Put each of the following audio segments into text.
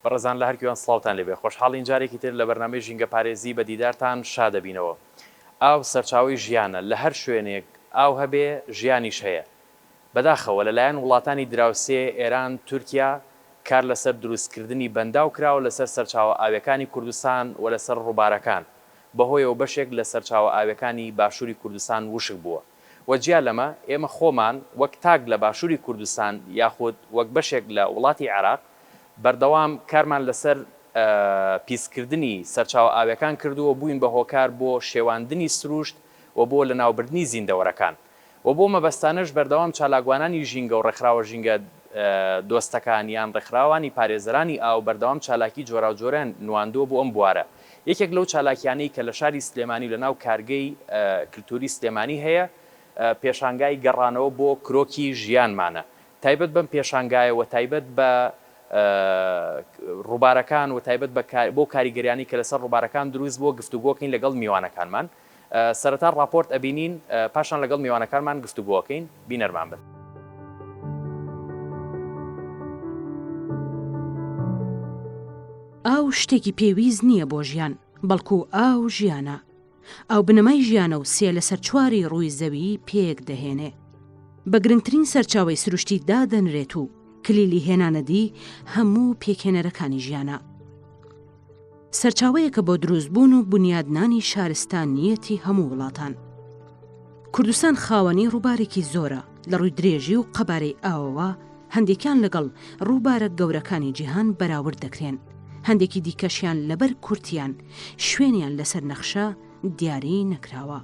بەڕێزان لە هەر کوێن سڵاوتان لێبێ خۆشحاڵین جارێکی تر لە بەرنامەی ژینگە پارێزی بە دیدارتان شادەبینەوە ئاو سەرچاوەی ژیانە لە هەر شوێنێک ئاو هەبێ ژیانیش هەیە بەداخەوە لەلایەن وڵاتانی دراوسێ، ئێران، تورکیا، کار لەسەر دروستکردنی بەنداو کراوە لەسەر سەرچاوە ئاویەکانی کوردستان و لەسەر ڕووبارەکان، بەهۆیەوە بەشێک لە سەرچاوە ئاویەکانی باشوری کوردستان وشک بووە و جیا لەمە ئێمە خۆمان وەک تاک لە باشوری کوردستان یاخود وەک بەشێک لە وڵاتی عێراق بەردەوام کارمان لەسەر پیسکردنی سەرچاوە ئاویەکان کردووە بووین بە هۆکار بۆ شێواندنی سروشت و بۆ لەناوبردنی زیندەوەرەکان. و بۆ مەبەستانەش بەردەوام چالاکوانانی ژینگە و ڕێکخراوە ژینگە دۆستەکان یان ڕێکخراوانی پارێزەرانی ئاو بەردەوام چالاکی جۆراوجۆریان نواندووە بۆ ئەم بوارە یەکێک لەو چالاکیانەی کە لە شاری سلێمانی و لە ناو کارگەی کلتوری سلێمانی هەیە پێشانگای گەڕانەوە بۆ کرۆکی ژیانمانە تایبەت بەم پێشانگایە و تایبەت بە ڕوبارەکان و تایبەت بە بۆ کاریگەریانی کە لەسەر ڕوبارەکان دروست بووە گفتوگۆکەین لەگەڵ میوانەکانمان سەرەتا ڕاپۆرت ئەبینین پاشان لەگەڵ میوانەکانمان گفتوگۆ ئەکەین، بینەرمان بن. ئاو شتێکی پێویست نییە بۆ ژیان، بەڵکو ئاو ژیانە. ئاو بنەمای ژیانە و سێ لەسەر چواری ڕووی زەوی پێک دەهێنێ. بە گرنگترین سەرچاوەی سروشتی دادەنرێت و کلیلی هێنانەدی هەموو پێکهێنەرەکانی ژیانە. سەرچاوەیەکە بۆ دروستبوون و بونیادنانی شارستانییەتی هەموو وڵاتان. کوردستان خاوەنی ڕووبارێکی زۆرە، لە ڕووی درێژی و قەبارەی ئاوەوە هەندێکیان لەگەڵ ڕووبارە گەورەکانی جیهان بەراورد دەکرێن، هەندێکی دیکەشیان لەبەر کورتییان، شوێنیان لەسەر نەخشە دیاری نەکراوە.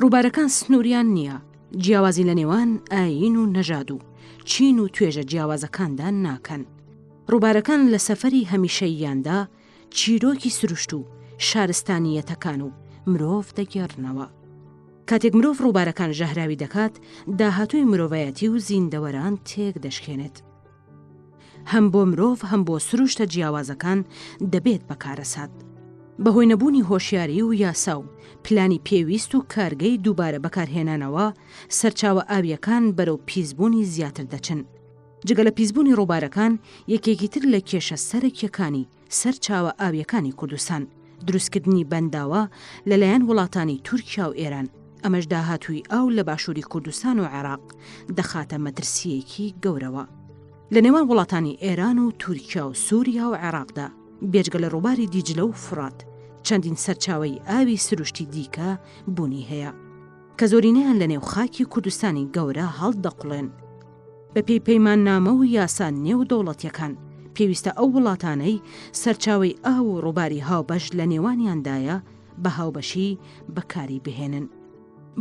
ڕووبارەکان سنووریان نییە، جیاوازی لە نێوان ئایین و نەژاد و چین و توێژە جیاوازەکاندا ناکەن. ڕووبارەکان لە سەفەری هەمیشەییاندا چیرۆکی سروشت و شارستانییەتەکان و مرۆڤ دەگێڕنەوە. کاتێک مرۆڤ ڕووبارەکان ژەهراوی دەکات، داهاتووی مرۆڤایەتی و زیندەوەران تێکدەشکێنێت. هەم بۆ مرۆڤ هەم بۆ سروشتە جیاوازەکان دەبێت بە کارەسات. بەهۆی نەبوونی هۆشیاری و یاسا و پلانی پێویست و کارگەی دووبارە بەکارهێنانەوە، سەرچاوە ئاوییەکان بەرەو پیسبوونی زیاتر دەچن. جگە لە پیسبوونی ڕووبارەکان، یەکێکی تر لە کێشە سەرەکییەکانی سەر چاوە ئاویەکانی کوردستان، دروستکردنی بەنداوە لەلایەن وڵاتانی تورکیا و ئێران، ئەمەش داهاتووی ئاو لە باشووری کوردستان و عێراق دەخاتە مەترسییەکی گەورەوە. لە نێوان وڵاتانی ئێران و تورکیا و سوریا و عێراقدا، بێجگە لە ڕووباری دیجلە و فوڕات، چەندین سەرچاوەی ئاوی سروشتی دیکە بوونی هەیە، کە زۆرینەیان لەنێو خاکی کوردستانی گەورە هەڵدەقوڵێن. بەپێی پەیماننامە و یاسا نێودەوڵەتیەکان، پێویستە ئەو وڵاتانەی سەرچاوەی ئاو و ڕووباری هاوبەش لە نێوانیاندایە، بە هاوبەشی بەکاری بهێنن.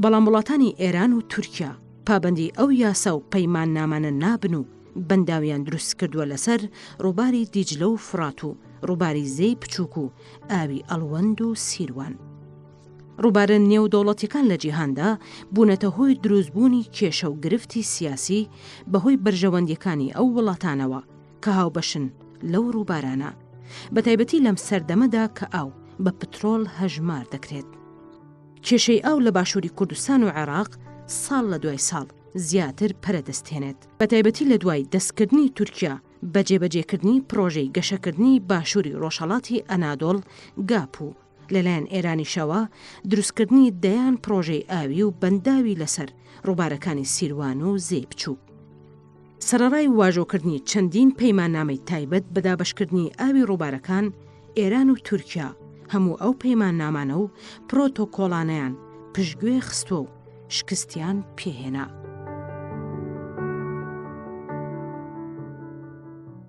بەڵام وڵاتانی ئێران و تورکیا پابەندی ئەو یاسا و پەیماننامانە نابن و بەنداویان دروستکردووە لەسەر ڕووباری دیجلە و فڕات و ڕووباری زێی پچووک و ئاوی ئەڵوەند و سیروان. ڕووبارە نێودەوڵەتیەکان لە جیهاندا بوونەتە هۆی دروستبوونی کێشە و گرفتی سیاسی بەهۆی بەرژەوەندیەکانی ئەو وڵاتانەوە کە هاوبەشن لەو ڕووبارانە، بەتایبەتی لەم سەردەمەدا کە ئاو بە پترۆڵ هەژمار دەکرێت. کێشەی ئاو لە باشووری کوردستان و عێراق ساڵ لە دوای ساڵ زیاتر پەرە دەستێنێت، بەتایبەتی لە دوای دەستکردنی تورکیا بە جێبەجێکردنی پڕۆژەی گەشەکردنی باشووری ڕۆژهەڵاتی ئەنادۆڵ، گاپ، و لەلایەن ئێرانیشەوە دروستکردنی دەیان پڕۆژەی ئاوی و بەنداوی لەسەر ڕووبارەکانی سیروان و زێی بچووک سەرەڕای واژۆکردنی چەندین پەیماننامەی تایبەت بە دابەشکردنی ئاوی ڕووبارەکان، ئێران و تورکیا هەموو ئەو پەیماننامانە و پرۆتۆکۆڵانەیان پشتگوێ خستووە و، شکستیان پێهێنا.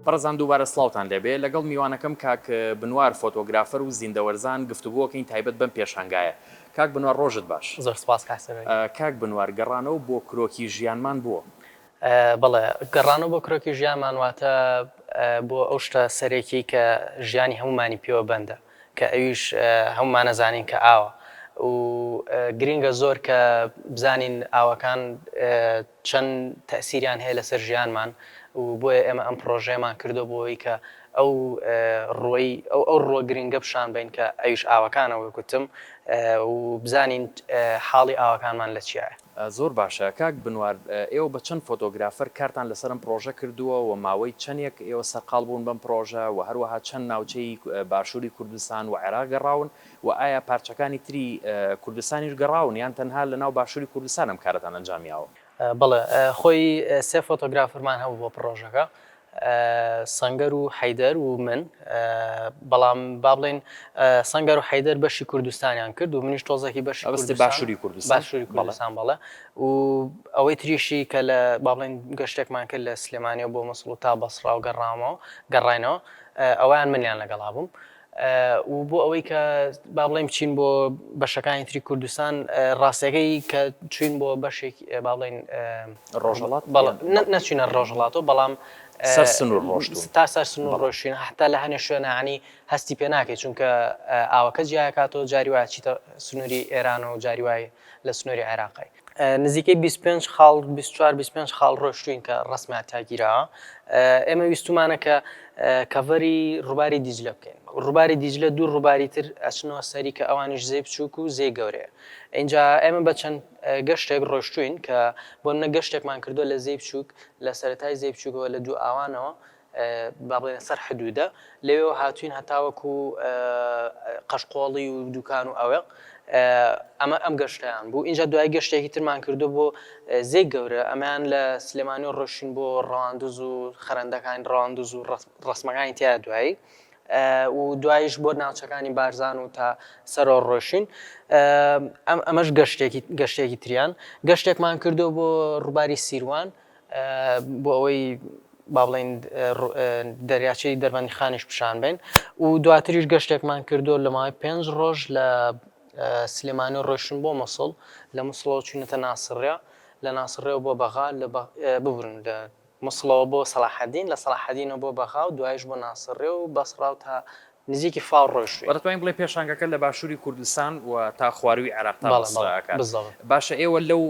بەڕێزان دووبارە سڵاوتان لێبێ، لەگەڵ میوانەکەم کاک بنوار فۆتۆگرافەر و زیندەوەرزان گفتوگۆکەین تایبەت بەم پێشانگایە. کاک بنوار ڕۆژت باش. زۆر سپاس کاک سەرۆی. کاک بنوار گەڕانەوە بۆ کرۆکی ژیانمان بۆ؟ بەڵێ گەڕانەوە بۆ کرۆکی ژیانمان واتە بۆ ئەو شتە سەرەکیەی کە ژیانی هەموومانی پێوە بەندە. کە ئەویش هەموومان ئەزانین کە ئاوە و گرینگە زۆر کە بزانین ئاوەکان چەند تەئسیریان هەیە لەسەر ژیانمان و بۆیە ئێمە ئەم پڕۆژەیەمان کردوە بۆ ئەوەی کە ئەو ڕووەی ئەو ئەو ڕووە گرینگە پیشان بەین کە ئەویش ئاوەکانە وەک وتم و بزانین حاڵی ئاوەکانمان لە چیایە. زۆر باشە کاک بنوار ئێوە بە چەند فۆتۆگرافەر کارتان لەسەر ئەم پڕۆژە کردووە وە ماوەی چەنێک ئێوە سەرقاڵ بوون بەم پڕۆژە وە هەروەها چەند ناوچەی باشووری کوردستان وە عێراق گەڕاون وە ئایا پارچەکانی تری کوردستانیش گەڕاون یان تەنها لەناو باشووری کوردستان ئەم کارەتان ئەنجامیاوە؟ بەڵێ خۆی سێ فۆتۆگرافەرمان هەبوو بۆ پڕۆژەکە سەنگەر و حەیدەر و من، بەڵام با بڵێین سەنگەر و حەیدەر بەشی کوردستانیان کرد و منیش تۆزەکی بەشی کوردستان، باشوری کوردستان، باشوری کوردستان بەڵێ و ئەوەی تریشی کە لە با بڵێین گەشتێکمان کرد لە سلێمانیەوە بۆ موسڵ و تا بەسڕا و گەڕامەوە گەڕاینەوە ئەوەیان منیان لەگەڵا بووم. و بۆ ئەوەی کە با بڵێین بچین بۆ بەشەکانی تری کوردستان ڕاستەکەی کە چوین بۆ بەشێک با بڵێین ڕۆژەڵات نەچینە ڕۆژەڵاتەوە بەڵام سەر سنوور ڕۆشت تا سەر سنوور ڕۆشتین هەتا لە هەنێ شوێنانی هەستی پێ ناکەی چونکە ئاوەکە جیاکاتەوە جاری وایە چیتە سنووری ئێران و جاری وای لە سنووری عێراقی نزیکەی بیست پێنج خاڵ بیست چوار بیست پێنج خاڵ ڕۆشتوین کە ڕسمیان تاگیراوە ئێمە ویستمانە کە کەڤەری ڕووباری دیجلە بکەین ڕووباری دیجلە دوو ڕووباری تر ئەچنەوە سەری کە ئەوانیش زێ بچووک و زێ گەورەیە اینجا ئێمە بە چەند گەشتێک ڕۆشتوین کە بۆ منە گەشتێکمان کردو لە زێ بچووک لە سەتای زێ بچووکەوە لە دوو ئاوانەوە با بڵێین سەر حدوودە، لەوێوە هاتووین هەتاوەکو قەشقۆڵی و دووکان و ئەوێ، ئەمە ئەم گەشتەیان بوو، ئینجا دوایی گەشتێکی ترمان کردووە بۆ زێی گەورە، ئەمەیان لە سلێمانیەوە ڕۆشتین بۆ ڕەواندز و خەرەندەکانی ڕەواندز و ڕەسمەکانی تیایە دوایی و دوایش بۆ ناوچەکانی بارزان و تا سەرەوە ڕۆشتین، ئەمەش گەشتێکی گەشتێکی تریان، گەشتێکمان کردووە بۆ ڕووباری سیروان، بۆ ئەوەی با بڵێین دەریاچەی دەربەندیخانیش پیشان بەین و دواتریش گەشتێکمان کردو لە ماوەی پێنج ڕۆژ لە سلێمانی و ڕۆشتن بۆ مەسڵ لە مسڵەوە چوینەتە ناسڕە لە ناسڕێەوە بۆ بەغا لە ببورن لە مسڵەوە بۆ سەلاحەدین لە سەلاحەدینە بۆ بەغا و دوایش بۆ ناسڕێ و بەسڕاو تا نزیکی فاو ڕۆشتوین. واتە توانین بڵێین پێشانگەکە لە باشووری کوردستان و تا خوارووی عێراق تا بەسرە ئەکات. باشە ئێوە لەو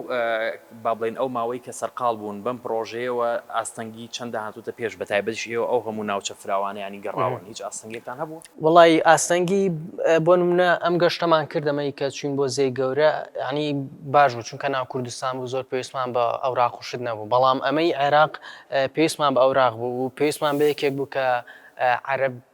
با بڵێین ئەو ماوەی کە سەرقاڵ بوون بەم پڕۆژەیەوە ئاستەنگی چەندە هاتووتە پێش بە تایبەتیش ئێوە ئەو هەموو ناوچە فراوانەیانی گەڕاون هیچ ئاستەنگێکتان هەبووە؟ وەڵایی ئاستەنگی بۆ نمونە ئەم گەشتەمان کرد ئەمەی کە چوین بۆ زێی گەورە یانی باش بوو چونکە ناو کوردستان بوو زۆر پێویستمان بە ئەوراق و شت نەبوو بەڵام ئەمەی عێراق پێویستمان بە ئەوراق بوو و پێویستمان بە یەکێک بوو کە عەرەب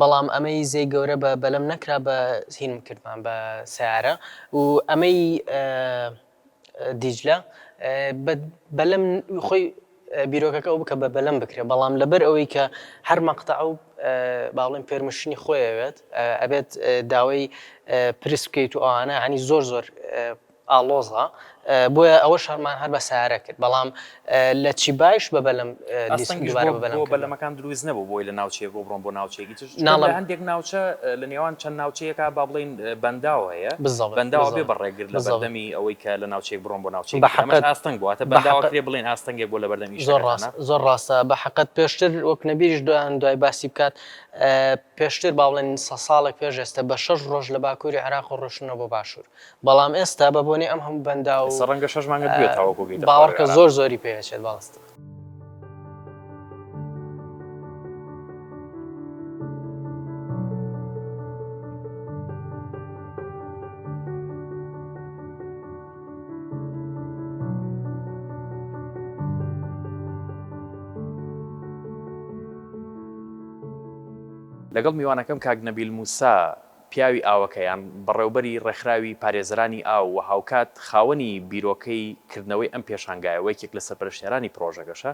بەڵام ئەمەی زێی گەورە بە بەلەم نەکرا بە هینم کردمان بە سیارە و ئەمەی دیجلە بە بەلەم خۆی بیرۆکەکە ئەو بکە بە بەلەم بکرێ بەڵام لەبەر ئەوەی کە هەر مەقتە ئەو باڵێن پێرمشنی خۆیەوێت ئەبێت داوای پرس بکەیت و ئەوانە عنی زۆر زۆر ئاڵۆزە بۆیە ئەوە شەڕمان هەر بە سارە کرد بەڵام لە چیبایش بە بەلەم ئەستەنگیش دووبارە بە بەلەم بۆ کرد. بەلەمەکان دروست نەبوو بۆی لە ناوچەیەکەوە بڕۆن بۆ ناوچەیەکی تر چونکە ناڵێم. لە هەندێک ناوچە لە نێوان چەند ناوچەیەکا با بڵێین بەنداو هەیە بالزبط بەنداوە بێ بالزبط بە ڕێگر لە بالزبط بەردەمی ئەوەی کە لە ناوچەیەک بڕۆن بۆ ناوچەیەکی تر ئەمەش بەحەقت ئاستەنگ بوو واتە بەنداوە بەحەقت کرێ بڵێین ئاستەنگێک بووە لە بەردەم زۆر ئیشەکەتانا. ڕاستە زۆر ڕاستە بەحەقت پێشتر وەک نەبیریش دان دوای باسی بکات پێشتر با بڵێین سە ساڵێک پێش ئێستە بە شەش ڕۆژ لە باکووری عێراق ڕۆشتنە بۆ باشوور بەڵام ئێستا بە بۆنەی ئەم هەموو بەنداو و ئێستا ڕەنگە شەش مانگت بوێت تاوەکو بگەیتە خوارەوەی باوەڕکە عێراق. زۆر زۆری پێ ئەچێت بەڕاستی. لەگەڵ میوانەکەم کاک نەبیل موسا پیاوی ئاوەکەیان، بەڕێوبەری ڕێکخراوی پارێزەرانی ئاو و هاوکات خاوەنی بیرۆکەی کردنەوەی ئەم پێشانگایە و یەکێک لە سەرپەرشتیارانی پڕۆژەکەشە،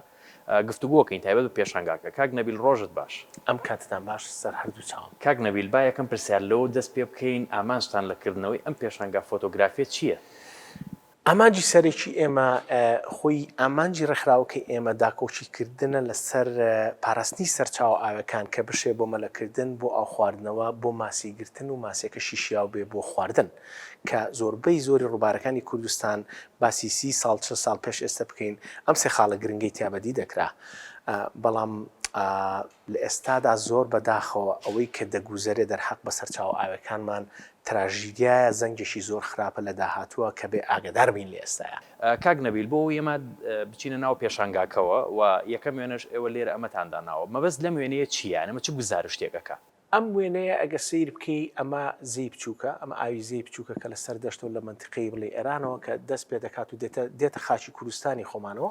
گفتوگۆکەین تایبەت بە پێشانگاکە. کاک نەبیل ڕۆژت باش. ئەم کاتتان باش سەر هەردوو چاوم. کاک نەبیل با یەکەم پرسیار لەوە دەست پێ بکەین ئامانجتان لە کردنەوەی ئەم پێشانگا فۆتۆگرافیە چییە؟ ئامانجی سەرەکی ئێمە خۆی ئامانجی ڕێکخراوەکەی ئێمە داکۆکی کردنە لەسەر پاراستنی سەرچاوە ئاوێکان کە بشێ بۆ مەلەکردن، بۆ ئاو خواردنەوە، بۆ ماسی گرتن و ماسیەکەشی شیاو بێ بۆ خواردن کە زۆربەی زۆری ڕووبارەکانی کوردستان باسی سی ساڵ چل ساڵ پێش ئێستە بکەین ئەم سێ خاڵە گرنگەی تیا بەدی دەکرا بەڵام لە ئێستادا زۆر بە داخەوە ئەوەی کە دەگوزەرێ دەرحەق بە سەر چاوە ئاوێکانمان تراژیدیایە زەنگێکی زۆر خراپە لە داهاتووە کە بێ ئاگەدار بین لە ئێستایا. کاک نەبیل بۆ ئێمە بچینە ناو پێشانگاکەوە و یەکەم وێنەش ئێوە لێرە ئەمەتان داناوە مەبەست لەم وێنەیە چییە یان ئەمە چ گوزارشتێک ئەکا؟ ئەم وێنەیە ئەگەر سەیر بکەی ئەمە زێی بچووکە ئەمە ئاوی زێی بچووکە کە لە سەر دەشتەو لە مەنتیقەی بڵێی ئێرانەوە کە دەست پێ دەکات و دێتە دێتە خاکی کوردستانی خۆمانەوە.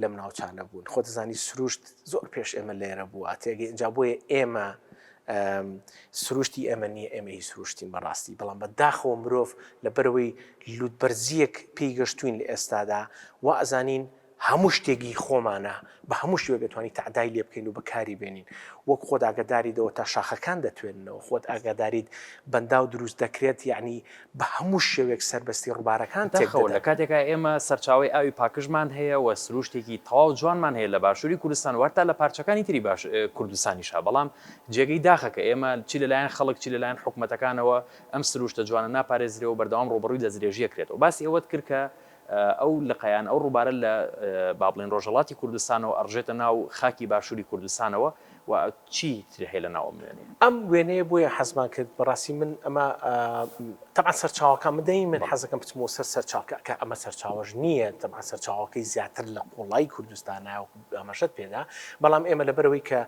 لەم ناوچانە بوون خۆ دەزانی سروشت زۆر پێش ئێمە لێرە بووە تێگەی ئەجا بۆیە ئێمە سروشتی ئێمە نییە ئێمە هی سروشتین بەڕاستی بەڵام بە داخەوە مرۆڤ لە بەرەوەی لوتبەرزیەک پێی گەشتوین لە ئێستادا و ئەزانین هەموو شتێکی خۆمانە بە هەموو شتێک دەتوانانی تەعدای لێ بکەین و بەکاری بێنین وەک خۆت ئاگداریدەوە تا شاخەکان دەتوێنەوە خۆت ئاگاداریت بەنداو دروست دەکرێت یعنی بە هەموو شێوەیەک سەربەستی ڕووبارەکان تێک دەدەن. دەخەون، لە کاتێکا ئێمە سەرچاوەی ئاوی پاکژمان هەیە و سرووشتێکی تەواو جوانمان هەیە لە باشووری کوردستان و هەتا لە پارچەکانی تری باش کوردستانیشا، بەڵام جێگەی داخە کە ئێمە چی لە لایەن خەڵک چی لە لایەن حکومەتەکانەوە ئەم سرووشتە جوانە ناپارێزرێ و بەردەوام ڕووبەڕووی دەستدرێژییەک کرێتەوە. باسی ئەوەت کرد کە ئەو لقەیان، ئەو ڕووبارە لە با بڵێین ڕۆژهەڵاتی کوردستانەوە ئەڕژێتە ناو خاکی باشووری کوردستانەوە و چی تر هەیە لە ناو ئەم وێنەیە؟ ئەم وێنەیە بۆیە حەزمان کرد بە ڕاستی من ئەمە تەبعەن سەرچاوەکان من دەی من حەز دەکەم بچمەوە سەر سەرچاوکە کە ئەمە سەرچاوەش نییە تەبعەن سەرچاوەکەی زیاتر لە قوڵایی کوردستانە وەکوو ئاماژەت پێ دا بەڵام ئێمە لەبەرەوەی کە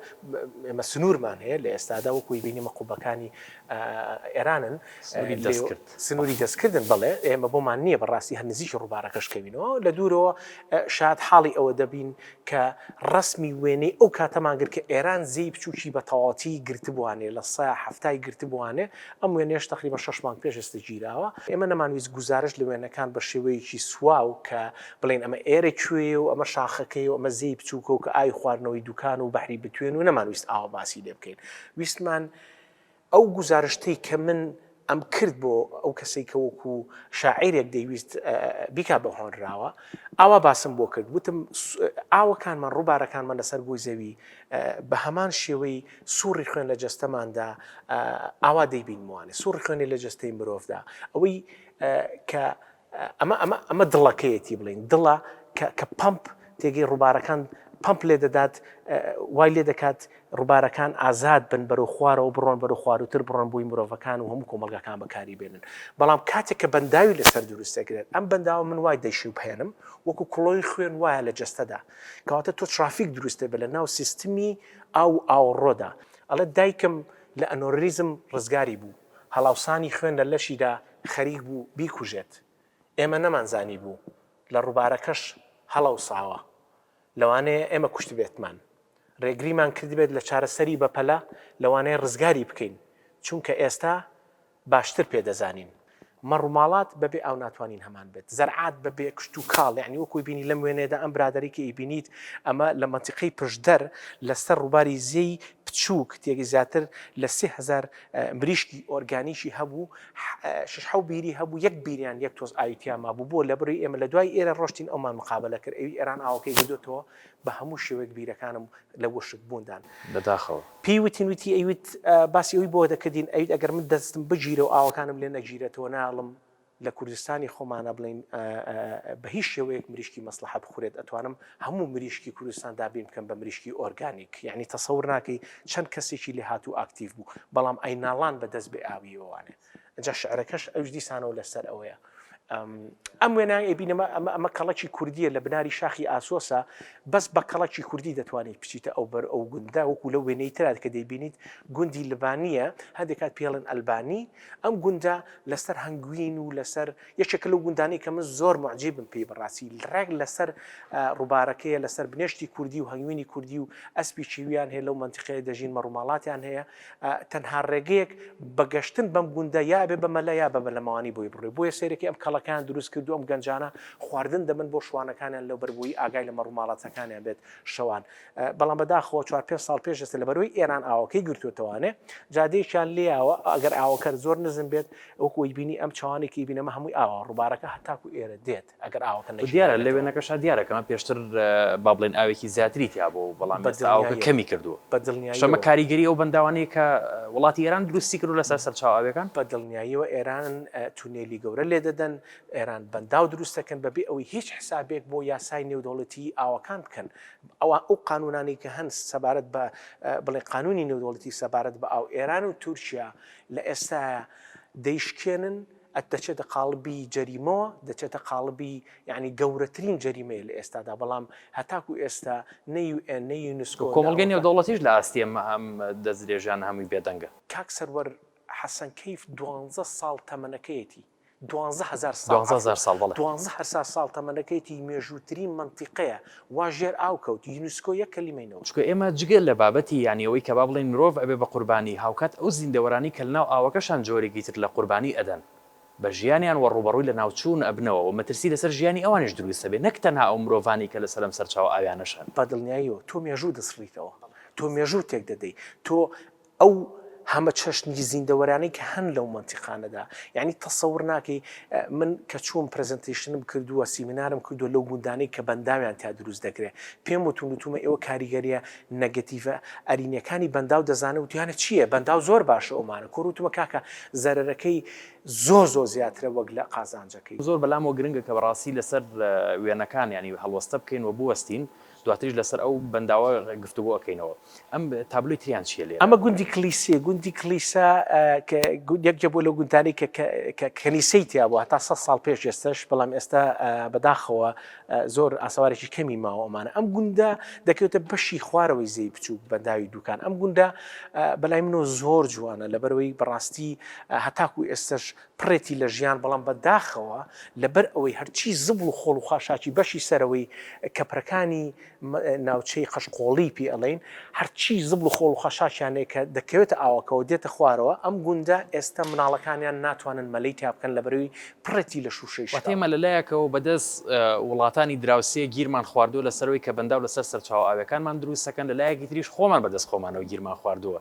ئێمە سنوورمان هەیە لە ئێستادا وەکووی بینیمە قوبەکانی ئێرانن سنووری دەستکرد دەکات. سنوری دەستکردن، بەڵێ، ئێمە بۆمان نییە بە ڕاستی هەر نزیکی ڕووبارەکەش کەوینەوە، لە دوورەوە شاد حاڵی ئەوە دەبین کە ڕەسمی وێنەی ئەو کاتەمان گرت کە ئێران زێی بچووکی بە تەواوەتی گرتبوانێ، لە سە حەفتای گرتبوانێ، ئەم وێنەیەش تەقریبەن شەش مانگ پێش ئێستە گیراوە. ئێمە نەمانویست گوزارشت لە وێنەکان بە شێوەیەکی سواو کە بڵێین ئەمە ئێرە کوێیە و ئەمە شاخەکەیە و ئەمە زێی بچووکە و کە ئاوی خواردنەوەی دووکان و بەحری بتوێن و نەمانویست ئاوا باسی لێ بکەین. ویستمان. ئەو گوزارشتەی کە من ئەم کرد بۆ ئەو کەسەی کە وەکو شاعیرێک دەیویست بیکا بە هۆنراوە، ئاوا باسم بۆ کرد، گوتم ئاوەکانمان، ڕووبارەکانمان لەسەر گۆی زەوی بە هەمان شێوەی سوڕی خوێن لە جەستەماندا ئاوا دەیبینموانێ، سوڕی خوێنی لە جەستەی مرۆڤدا، ئەوەی کە ئەمە ئەمە ئەمە دڵەکەیەتی بڵێین دڵە کە کە پەمپ تێگەی ڕووبارەکان پەمپ لێ دەدات وای لێ دەکات ڕووبارەکان ئازاد بن بەرەو خوارەوە بڕۆن بەرەو خواروتر بڕۆن بووی مرۆڤەکان و هەموو کۆمەلگاکان بەکاری بێنن بەڵام کاتێک کە بەنداوی لەسەر دروست دەکرێت ئەم بەنداوە من وای دەشی بهێنم وەکو کوڵۆی خوێن وایە لە جەستەدا کەواتە تۆ ترافیک دروستێ بە لە ناو سیستمی ئاو ئاوڕۆدا ئەڵێ دایکم لە ئەنۆریزم ڕزگاری بوو هەڵاوسانی خوێن لە لەشیدا خەریک بوو بیکوژێت، ئێمە نەمانزانیبوو لە ڕووبارەکەش هەڵەوساوە، لەوانەیە ئێمە کوشتبێتمان، ڕێگریمان کردبێت لە چارەسەری بەپەلە، لەوانەیە ڕزگاری بکەین، چونکە ئێستا باشتر پێ دەزانین. مەڕوماڵات بە بێ ئاو ناتوانین هەمان بێت، زەرعات بە بێ کشتوکاڵ، یەعنی وەکووی بینی لەم وێنەیەدا ئەم برادەرەی کە ئیبینیت ئەمە لە مەنتیقەی پشدەر لە سەر ڕووباری زێی بچووک تێک زیاتر لە سێ هەزار مریشکی ئۆرگانیکی هەبوو شش حەو بیری هەبوو یەک بیریان یەک تۆز ئاوی تیا مابوو بۆ لەبری ئێمە لە دوای ئێرە ڕۆشتین ئەومان مقابەلە کرد ئەوی ئێران ئاوەکەی بردۆتەوە بە هەموو شێوەیەک بیرەکانم لە وشک بووندان بەداخەوە. پێی وتین وتی ئەیوت باسی ئەوی بۆ دەکردین ئەیوت ئەگەر من دەستم بگیرە و ئاوەکانم لێ نەگیرێتەوە نایەڵم، لە کوردستانی خۆمانا بڵێین بە هیچ شێوەیەک مریشکی مەسڵەحە بخورێت ئەتوانم هەموو مریشکی کوردستان دابین بکەم بە مریشکی ئۆرگانیک یانی تەسەور ناکەی چەند کەسێکی لێهاتوو ئاکتیڤ بوو بەڵام ئەی ناڵان بە دەست بێ ئاویەوە وانێ ئەجا شعرەکەش ئەوش دیسانەوە لەسەر ئەوەیە ئەم وێنای ئەبینەمە ئەمە ئەمە کەڵکی کوردیە لە بناری شاخی ئاسۆسە بەس بە کەڵکی کوردی دەتوانیت بچیتە ئەو بەر ئەو گوندا وەکو لە وێنەی ترات کە دەیبینیت گوندی لبانە هەندێکات پێڵن ئەلبانی ئەم گوندە لەسەر هەنگوین و لەسەر یەکێکە لەو گوندانەی کە من زۆر موعجیبم پێی بەڕاستی ڕێک لەسەر ڕوبارەکەیە لەسەر بنێشتی کوردی و هەنگوینی کوردی و ئەسپی کیویان هەیە لەو مەنتیقەیە دەژین مەڕوماڵاتیان هەیە تەنها ڕێگەیەک بە گەشتن بەم گوندە یا ئەبێ بە مەلا یا بە بەلەمەوانی بۆی بڕۆی بۆیە سەیرەکەی ئەم کەڵەکەیان دروست کردووە ئەم گەنجانە خواردن دەبەن بۆ شوانەکانیان لەوبەر بۆی ئاگای لە مەڕوماڵاتەکانیان بێت شەوان بەڵام بەداخەوە چوار پێنج ساڵ پێش ئێستا لەبەرەوەی ئێران ئاوەکەی گرتوێتەوانێ جادەیەکیان لێیاوە ئەگەر ئاوەکەر زۆر نزم بێت وەکو وەی بینی ئەم چاوانی کە بینەمە هەمووی ئاوا ڕووبارەکە هەتاکو ئێرە دێت ئەگەر ئاوەکە نەشێت. دیارە لە وێنەکەشا دیارە کە پێشتر با بڵێن ئاوێکی زیاتری تیا بوو و بەڵام ئێستا ئاوەکە کەمی کردووە بە دڵنیاییەوە ئەمە کاریگەری ئەو بەنداوانەیە کە وڵاتی ئێران دروستی کردووە لەسەر سەرچاوە ئاوییەکان. بە دڵنیاییەوە ئێران تونێلی گەورە لێ دەدەن ئێران بەنداو دروست دەکەن بەبێ ئەوەی هیچ حسابێک بۆ یاسای نێودەوڵەتیی ئاوەکان بکەن ئەوا ئەو قانوونانەی کە هەن سەبارەت بە بڵێ قانوونی نێودەوڵەتی سەبارەت بە ئاو، ئێران و تورکیا لە ئێستایا دەیشکێنن، ئەت دەچێتە قاڵبی جەریمەوە، دەچێتە قاڵبی یانی گەورەترین جەریمەیە لە ئێستادا، بەڵام هەتاکوو ئێستا نە یو ئێن، نە یونسکۆ، نە ئەوروپا. کۆمەڵگەی نێودەوڵەتیش لە ئاستی ئەم ئەم دەستدرێژیانە هەمووی بێدەنگە. کاک سەروەر حەسەن کەیف دوانزە ساڵ تەمەنەکەیەتی. دوانزە هەزار ساڵ دوانزە هەزار ساڵ بەڵێ. دوانزە هەرسار ساڵ تەمەنەکەیەتی مێژووترین مەنتیقەیە وا ژێر ئاو کەوت یونسکۆ یەک کەلیمەی نەوت. چونکە ئێمە جگە لە بابەتی یانی ئەوەی کە با بڵێین مرۆڤ ئەبێ بە قوربانی هاوکات ئەو زیندەوەرانی کە لەناو ئاوەکەشان جۆرێکی تر لە قوربانی ئەدەن بە ژیانیان وە ڕووبەڕووی لەناوچوون ئەبنەوە وە مەترسی لەسەر ژیانی ئەوانیش دروست ئەبێ نەک تەنها ئەو مرۆڤانەی کە لەسەر ئەم سەرچاوە ئاویانەش هەن. بەدڵنیاییەوە تۆ مێژوو دەسڕیتەوە تۆ مێژوو تێک دەدەی تۆ. ئەو هەمە چەشنی زیندەوەرانەی کە هەن لەو مەنتیقانەدا یانی تەسەور ناکەی من کە چووم پرزنتیشنم کردووە سیمینارم کردووە لەو گوندانەی کە بەنداویان تیا دروست دەکرێ پێم وتون وتومە ئێوە کاریگەریە نەگەتیڤە ئەرینەکانی بەنداو دەزانن وتیانە چیە بەنداو زۆر باشە ئەومانە کۆر وتومە کاکە زەرەرەکەی زۆر زۆر زیاترە وەک لە قازانجەکەی. زۆر بەلامەوە گرنگە کە بەراستی لەسەر وێنەکان یانی هەڵوەستە بکەین و بوەستین دواتریش لەسەر ئەو بەنداوە گفتوگۆ ئەکەینەوە. ئەم تابلۆی تریان چییە لێرە؟ ئەمە گوندی کلیسیە، گوندی کلیسا کە یەکێ بووە لەو گوندانەی کە کە کەنیسەی تیا بوو هەتا سەد ساڵ پێش ئێستەش، بەڵام ئێستا بەداخەوە زۆر ئاسەوارێکی کەمی ماوە ئەمانە. ئەم گوندە دەکەوێتە بەشی خوارەوەی زێی بچووک بەنداوی دووکان. ئەم گوندە بەلای منەوە زۆر جوانە لەبەرئەوەی بەڕاستی هەتاکوو ئێستەش پڕێتی لە ژیان بەڵام بە داخەوە لە بەر ئەوەی هەرچی زبڵ و خۆڵ و خاشاکی بەشی سەرەوەی کەپرەکانی ناوچەی قەشقۆڵی پێ ئەڵێین هەرچی زبڵ و خۆڵ و خاشاکیان هەیە کە دەکەوێتە ئاوەکەوە دێتە خوارەوە ئەم گوندە ئێستا مناڵەکانیان ناتوانن مەلەی تیا بکەن لە بەروی پڕێتی لە شوشەی شاو. واتە ئێمە لە لایەکەوە بە دەست وڵاتانی دراوسێ گیرمان خواردووە لە سەرەوەی کەبەنداو لە سەر سەرچاوە ئاویەکانمان دروست دەکەن لە لایەکی تریش خۆمان بە دەست خۆمانەوە گیرمان خواردووە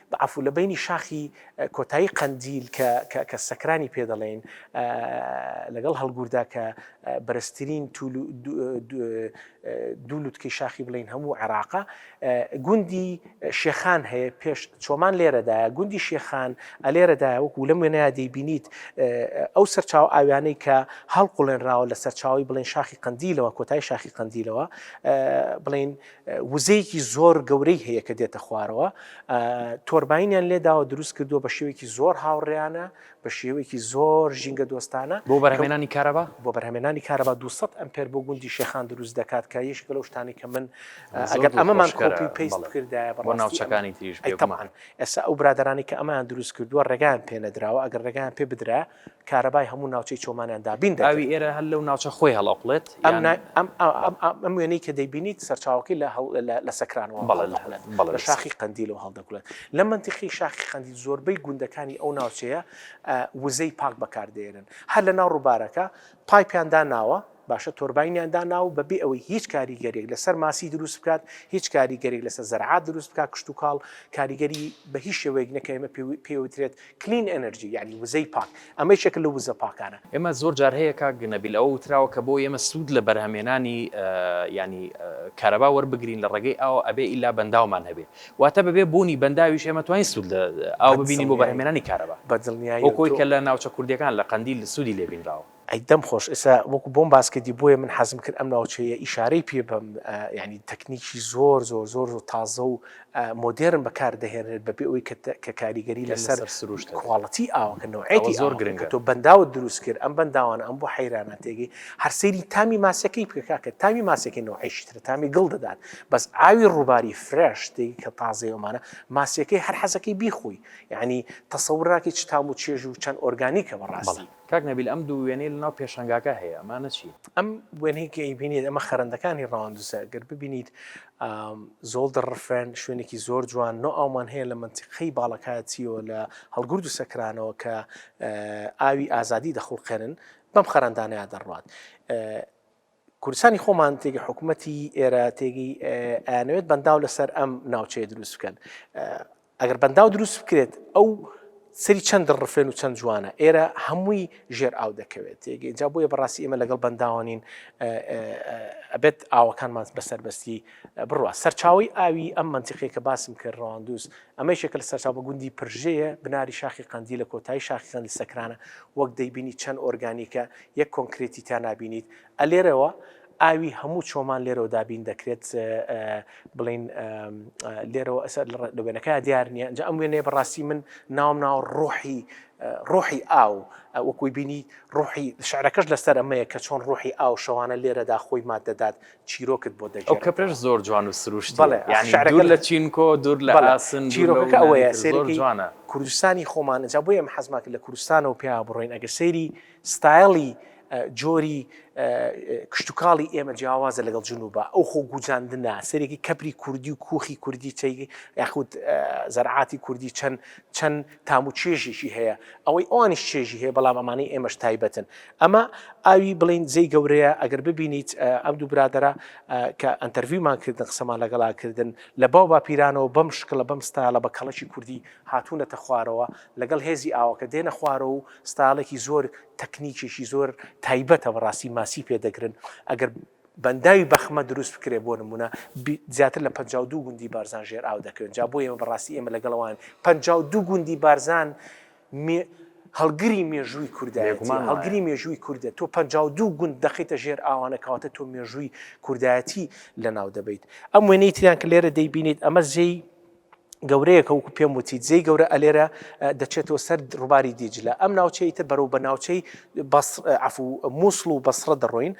بەعەفو لە بەینی شاخی کۆتایی قەندیل کە کە کە سەکرانی پێ دەڵێین لەگەڵ هەڵگوردا کە بەرزترین توول و دوو لوتکەی شاخی بڵێین هەموو عێراقە گوندی شێخان هەیە پێش چۆمان لێرەدایە گوندی شێخان ئەلێرەدا وەکو لەم وێنەیە دەیبینیت ئەو سەرچاو ئاویانەی کە هەڵقڵێنراوە لە سەرچاوی بڵێن شاخی قەندیلەوە کۆتای شاخی قەندیلەوە بڵین وزەیەکی زۆر گەورەی هەیە کە دێتە خوارەوە تۆرباینیان لێداوە دروست کردووە بە شێوەیەکی زۆر هاوڕێیانە بە شێوەیەکی زۆر ژینگە دۆستانە بۆ بەرهەمێنانی کارەبا بۆ بەرهەمێنانی کارەبا 200 ئەمپێر بۆ گوندی شێخان دروست دەکات کە یەکێکە لەو شتانەی کە من ئەگەر ئەمەمان کۆپی و پەیست بکردایە بە بەڕاستی ناوچەکانی تریش بێگومان ئێستا ئەو برادەرانی کە ئەمەیان دروست کردووە ڕێگایان پێ نەدراوە ئەگەر ڕێگایان پێ بدرایە کارەبای هەموو ناوچەی چۆمانیان دابین دەکرد. ئاوی ئێرە هەر لەو ناوچە خۆی هەڵئەقڵێت؟ یان. ئەم وێنەی کە دەیبینیت سەرچاوەکەی لە سەکرانەوە هەڵدەقڵێت، لە شاخی قەندیلەوە هەڵدەقڵێت. لە مەنتیقی شاخی قەندیل زۆربەی گوندەکانی ئەو ناوچەیە وزەی پاک بەکاردەهێنن. هەر لەناو ڕووبارەکە پایپیان داناوە، باشە تۆرباینیان داناوە بە بێ ئەوەی هیچ کاریگەریەک لە سەر ماسی دروست بکات، هیچ کاریگەریەک لە سەر زەرعات دروست بکات، کشتوکاڵ کاریگەری بە هیچ شێوەیەک نەکە ئێمە پێی وترێت کلین ئێنەرجی یانی وزەی پاک، ئەمە یەکێکە لەو وزە پاکانە. ئێمە زۆر جار هەیە کاک نەبیل ئەوە وتراوە کە بۆ ئێمە سوود لە بەرهەمێنانی یانی کارەبا وەربگرین لە ڕێگەی ئاوە ئەبێ ئیلا بەنداومان هەبێ، واتە بەبێ بوونی بەنداویش ئێمە توانین سوود لە ئاو ببینین بۆ بەرهەمێنانی کارەبا، هۆکۆی کە لە ناوچە کوردییەکان لە قەندیل سوودی لێ بینراوە. ئەی دەم خۆش ئێستا وەکو بۆم باس کردی بۆیە من حەزم کرد ئەم ناوچەیە ئیشارەی پێ بەم یانی تەکنیکی زۆر زۆر زۆر زۆر تازە و مۆدێرن بەکار دەهێنرێت بەبێ ئەوەی کە کاریگەری لەسەر سروشت کواڵتی ئاوەکە نەوعێتی زۆر گرنگە تۆ بەنداوت دروست کرد ئەم بەنداوانە ئەم بۆ حەیرانە تێگەی هەر سەیری تامی ماسیەکەی بکە کاکە تامی ماسیەکەی نەوعێکی ترە تامی گڵ دەدات بەس ئاوی ڕوباری فرێش تێگی کە تازەی ئەومانە ماسیەکەی هەر حەزەکەی بیخۆی یانی تەسەور ناکەی چ تام و چێژ و چەند ئۆرگانیکە بەڕاستی. کاک نەبیل ئەم دوو وێنەی لەناو پێشانگاکە هەیە ئەمانە چین؟ ئەم وێنەی کە ئەیبینیت ئەمە خەرەندەکانی ڕەواندزە گەر ببینیت زۆڵ دەڕفێن شوێنێکی زۆر جوان نۆ ئاومان هەیە لە مەنتیقەی باڵەکایەتیەوە لە هەڵگورد و سەکرانەوە کە ئاوی ئازادی دەخوڵقێنن بەم خەرەندانەیا دەڕوات کوردستانی خۆمان تێگەی حکوومەتی ئێرە تێگەی ئەیانەوێت بەنداو لەسەر ئەم ناوچەیە دروست بکەن ئەگەر بەنداو دروست بکرێت ئەو سری چەند ڕفێن و چەند جوانە ئێرە هەمووی ژێر ئاو دەکەوێت ئینجا بۆیە بەڕاستی ئێمە لەگەڵ بەنداوانین ئەبێت ئاوەکانمان بەسەربەستی بڕوە سەرچاوی ئاوی ئەم منتیقی کە باسم کرد ڕواندوز ئەمە شێکە لە سەرچاو بە گوندی پرژەیە بناری شاخی قندی لە کۆتایی شاخیان لە سەکرانە وەک دەیبینی چەند ئۆرگانیکە یەک کۆنکرێتی تیا نابینیت ئە لێرەوە ئاوی هەموو چۆمان لێرەوە دابین دەکرێت بڵین لێرەوە ئەسەر لە وێنەکە دیار نیە ئەنج ئەم وێنێ بەڕاستی من ناوم ناو ڕۆحی ڕۆحی ئاو وەکوی بینی ڕۆحی شعرەکەش لەسەر ئەمەیە کە چۆن ڕۆحی ئاو شەوانە لێرەدا خۆی ماد دەدات چیرۆکت بۆ دەجێت کە پێش زۆر جوان و سروشت شعرەکە لە چینکۆ دوور لە ئاسن چیرۆکەکە ئەوەیە سێری جوانە کوردستانی خۆمان جا بۆ ئێمە حەزماکە لە کوردستانەوە پێیا بڕۆین ئەگە سەیری ستایڵی جۆری کشتوکاڵی ئێمە جیاوازە لەگەڵ جنوبا ئەو خۆ گوجاندنە سەرێکی کەپری کوردی و کوخی کوردی چەیگی یاخود زەرعاتی کوردی چەند چەند تام و چێژێکی هەیە ئەوەی ئەوانیش چێژی هەیە بەڵام ئەمانەی ئێمەش تایبەتن ئەمە ئاوی بڵین زەی گەورەیە ئەگەر ببینیت ئەم دوو برادرە کە ئەتەرویمان کردن قسەمان لەگەڵا کردن لە باو باپیرانەوە بەم شکڵە بەم ستایڵە بە کەڵکی کوردی هاتوونەتە خوارەوە لەگەڵ هێزی ئاوەکە دێنە خوارەوە و ستایڵێکی زۆر تەکنیکێکی زۆر تایبەتە بەڕاستی ماسی پێ دەگرن ئەگەر بەنداوی بەخمە دروست بکرێ بۆ نمونە زیاتر لە 52 گوندی بارزان ژێر ئاو دەکەوێن جا بۆ ئێمە بەڕاستی ئێمە لەگەڵەوەن 52 گوندی بارزان هەڵگری مێژووی کوردایەتی هەڵگری مێژووی کوردە تۆ 52 گوند دەخیتە ژێر ئاوانە کەواتە تۆ مێژووی کوردایەتی لە ناو دەبیت ئەم وێنەی تریان کە لێرە دەیبینیت ئەمە زێی گەورەیە کە وەکو پێم وتی جێی گەورە ئەلێرە دەچێتەوە سەر ڕوباری دیجلە ئەم ناوچەی تر بەرەو بە ناوچەی عف و مووسڵ و بەسڕە دەڕۆین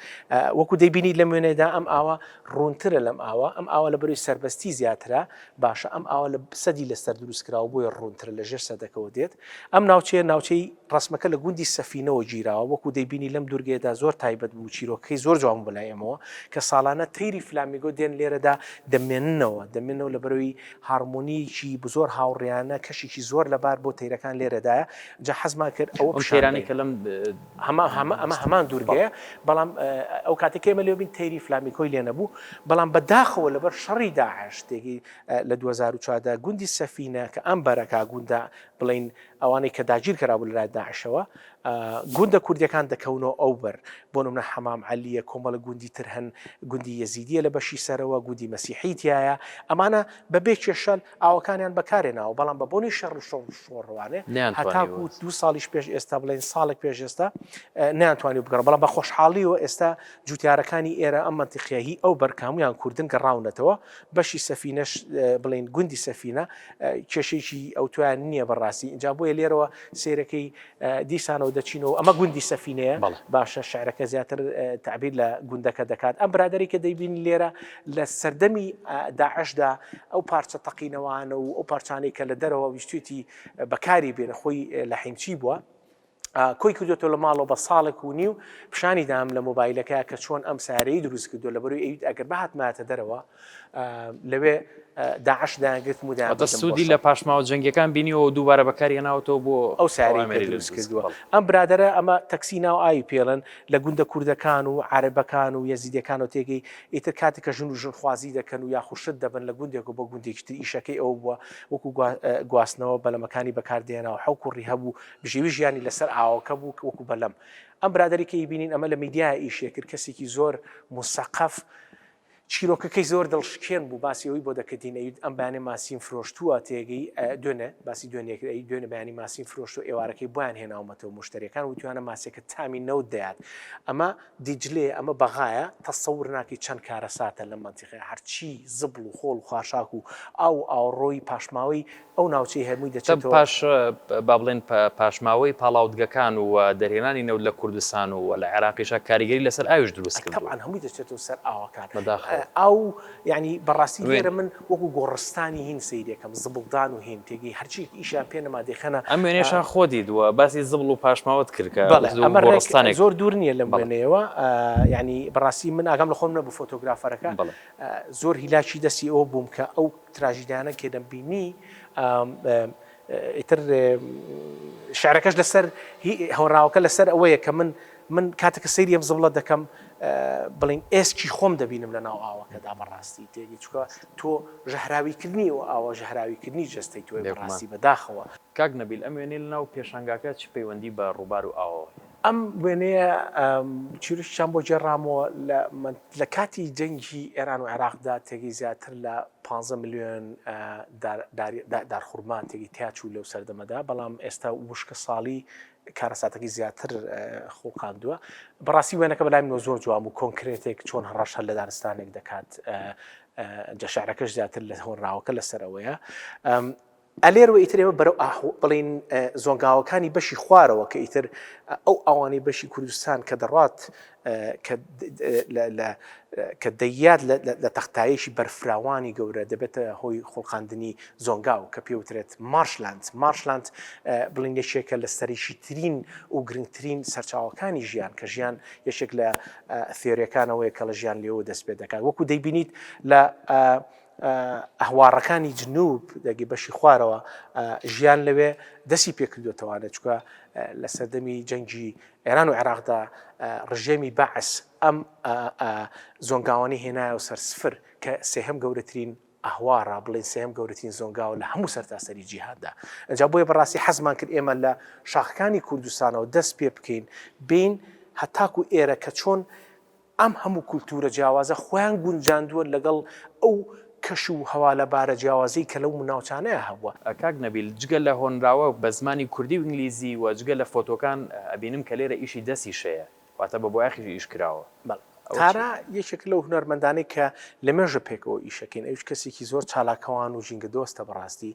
وەکو دەیبینی لە وێنێدا ئەم ئاوە ڕوونترە لەم ئاوە ئەم ئاوە لە بەروی سربەستی زیاترە باشە ئەم ئاوە لە سەدی لەسەر دروستکراوە بۆیە ڕوونترە لە ژێر سەدەکەەوە دێت ئەم ناوچەیە ناوچەی ڕەسمەکە لە گوندی سەفینەوە گیراوە، وەکو دەیبینی لەم دوورگەیەدا زۆر تایبەت بوو، چیرۆکەکەی زۆر جوان بوو بەلای ئێمەوە، کە ساڵانە تەیری فلامیگۆ دێن لێرەدا دەمێننەوە، دەمێننەوە لەبەرەوەی هارمۆنیەکی زۆر هاوڕیانە، کەشێکی زۆر لەبار بۆ تەیرەکان لێرەدایە، جا حەزمان کرد ئەوە پیشان دەین. ئەمە هەمان دوورگەیە، بەڵام ئەو کاتەی کە ئێمە لێوە بین تەیری فلامیکۆی لێ نەبوو، بەڵام بە داخەوە لەبەر شەڕی داعش تێگەی لە دوو هەزار و چوار دا گوندی سەفینە کە ئەم بەرەکە گوندە بڵێین ئەوانەی کە داگیر کەرابوو لەلایەن داعشەوە گوندە کوردیەکان دەکەونەوە ئەو بەر بۆ نمونە حەمام عەلیە کۆمەڵە گوندی تر هەن گوندی یەزیدیە لە بەشی سەرەوە گوندی مەسیحی تایە ئەمانە بە بێ کێشەل ئاوەکانیان بەکارێ ناوە بەڵام بە بۆنی شەڕ و شەڕ شۆڕوانێ هەتاکو دو ساڵیش پێش ئێستا بڵێن ساڵێک پێش ئێستا نیانتوانی بگەڕ بەڵام بە خۆشحاڵیەوە ئێستا جوتیارەکانی ئێرە ئەم منتیقیهی ئەو بەرکامویان کوردن گەڕاونەتەوە بەشی سەفینەش بڵێین گوندی سەفینە کێشەیەکی ئەوتۆیان نییە بەڕاستی ئینجا بۆیە لێرەوە سیرەکەی دیسانەوە دەچینەوە ئەمە گوندی سەفینەیە باشە شعرەکە زیاتر تعبیر لە گوندەکە دەکات ئەم برادری کە دەیبین لێرە لە سەردەمی داعشدا ئەو پارچە تەقینەوانە و ئەو پارچانەی کە لە دەرەوە ویستێتی بەکاری بێنە خۆی لە حیمچی بووە کۆی کردوێتەوە لە ماڵەوە بە ساڵێک و نیو پیشانی دام لە مۆبایلەکە کە چۆن ئەم سارەی دروست کردو لە بەروی ئەویت ئەگەر بەهاتماتە دەرەوە لەوێ داعش داگرت مدا سوودی لە پاشماوە جەنگەکان بینیەوە دووبارە بەکاری ناوەوە بۆ ئەو ساری دروست کردووە ئەم برادرە ئەمە تەکسی ناو ئاوی پێڵن لە گوندە کوردەکان و عربەکان و یەزیدەکان و تێگەی ئیتر کاتی کە ژن و ژنخوازی دەکەن و یاخوشت دەبن لە گوندێک و بۆ گوندێکتر ئیشەکەی ئەو بووە وەکو گواستنەوە بەلەمەکانی بەکاردێناوە حەوکوڕی هەبوو بژیوی ژیانی لەسەر ئاوەکە بوو وەکو بەلەم ئەم برادەری کە ئیبینین ئەمە لە میدیایا ئیشێ کرد کەسیکی زۆر موسەقەف چیرۆکەکەی زۆر دڵشکێن بوو باسی ئەوی بۆ دەکردین ئەوید ئەم بەیانی ماسیم فرۆشتووە تێگەی دوێنێ باسی دوێنێ کرد ئەی دوێنێ بەیانی ماسیم فرۆشت و ئێوارەکەی بۆیان هێناومەتەوە مشتەریەکان وتویانە ماسیەکە تامی نەوت دەیات ئەمە دیجلەیە ئەمە بەغایە تەسەور ناکەی چەند کارەساتە لەم مەنتیقەیە هەرچی زبڵ و خۆڵ و خاشاک و ئاو و ئاوەڕۆی پاشماوەی ئەو ناوچەی هەرمووی دەچێتەوە. با بڵێن پاشماوەی پاڵاوتگەکان و دەرهێنانی نەوت لە کوردستان و لە عێراقیشا کاریگەری لەسەر ئاویش دروست کردووە. تەبعەن هەمووی دەچێتەوە سەر ئاوەکان. بەداخەوە. ئاو یانی بەڕاستی لێرە من وەکو گۆڕستانی هین سەیرەکەم زبڵدان و هین تێگەی هەرچیەک ئیشیان پێ نەما دەیخەنە. ئەم وێنەیەشان خۆ دیدووە باسی زبڵ و پاشماوەت کرد کە وتت وەکو گۆڕستانێک. بەڵێ زۆر دوور نیە لەم وێنەیەوە یانی بەڕاستی من ئاگام لە خۆم نەبوو فۆتۆگرافەرەکە زۆر هیلاکی دەستی ئەوە بووم کە ئەو تراژیدیانە کێ دەمبینی ئیتر شعرەکەش لەسەر هی هۆنراوەکە لەسەر ئەوەیە کە من من کاتێکە سەیری ئەم زبڵە دەکەم بڵین ئێسکی خۆم دەبینم لە ناو ئاوەکەدا بەڕاستی تێنی چکە تۆ ژەهراویکردنی و ئاوە ژەهراویکردنی جەستەی تۆی بەڕاستی بەداخەوە. کاک نەبیل ئەم وێنەی لەناو پێشانگاکە چ پەیوەندی بە ڕووبار و ئاوەوە هەیە؟ ئەم وێنەیە چیرۆکی کچان بۆ گێڕامەوە لە کاتی جەنگی ئێران و عێراقدا تێگەی زیاتر لە پ ملیۆن دارخورما تێگەی تیاچوو لەو سەردەمەدا بەڵام ئێستا وشکە ساڵی کارەساتەکەی زیاتر خوڵقاندووە بەڕاستی وێنەکە بەلای منەوە زۆر جوان و کۆنکرێتێک چۆن هەڕەش هەر لە دارستانێک دەکات جەشارەکەش زیاتر لە هۆنراوەکە لەسەرەوەیە ئەلێر و ئیتر ئێمە بەرەو ئاه و بڵێین زۆنگاوەکانی بەشی خوارەوە کە ئیتر ئەو ئاوانەی بەشی کوردستان کە دەڕات کە دەیات لە تەختایشی بەرفراوانی گەورە دەبێتە هۆی خوڵقاندنی زۆنگاو کە پێوترێت مارشلاند مارشلاند بڵین یەکێکە لە سەریشی ترین و گرنگترین سەرچاوەکانی ژیان کە ژیان یەکێک لە ثێرەکانەوەی کە لە ژیان لێەوە دەست پێ دەکات وەکو دەیبینیت لە ئهوارهکانی جنوب، دهگهی بەشی خوارەوە، ژیان لەوێ دەستی پێکردووەتەوانێ، چونکە لە سەردەمی جەنگی ئێران و عێراقدا ڕژێمی بەعس ئەم زۆنگاوانەی هێنایەوە سەر سفر، کە سێهەم گەورەترین ئهوارە، بڵێین سێهەم گەورەترین زۆنگاوە لە هەموو سەرتاسەری جیهاندا. ئنجا بۆیە بەڕاستی حەزمان کرد ئێمە لە شاخەکانی کوردستانەوە دەست پێ بکەین بێین هەتاکوو ئێرە کە چۆن، ئەم هەموو کولتوورە جیاوازە خۆیان گونجاندووە لەگەڵ ئەو کەش و هەوالەبارە جیاوازەی کە لەو ناوچانەیا هەبووە. کاک نەبیل جگە لە هۆنراوە بە زمانی کوردی و ئینگلیزی و جگە لە فۆتۆکان ئەبینم کە لێرە ئیشی دەستیش هەیە واتە بە بۆیاخیش ئیش کراوە بەڵێ ئەوە تارا چیە؟ یەکێکە لەو هونەرمەندانەی کە لە مێژە پێکەوە ئیشەکەین ئەویش کەسێکی زۆر چالاکەوان و ژینگە دۆستە بەڕاستی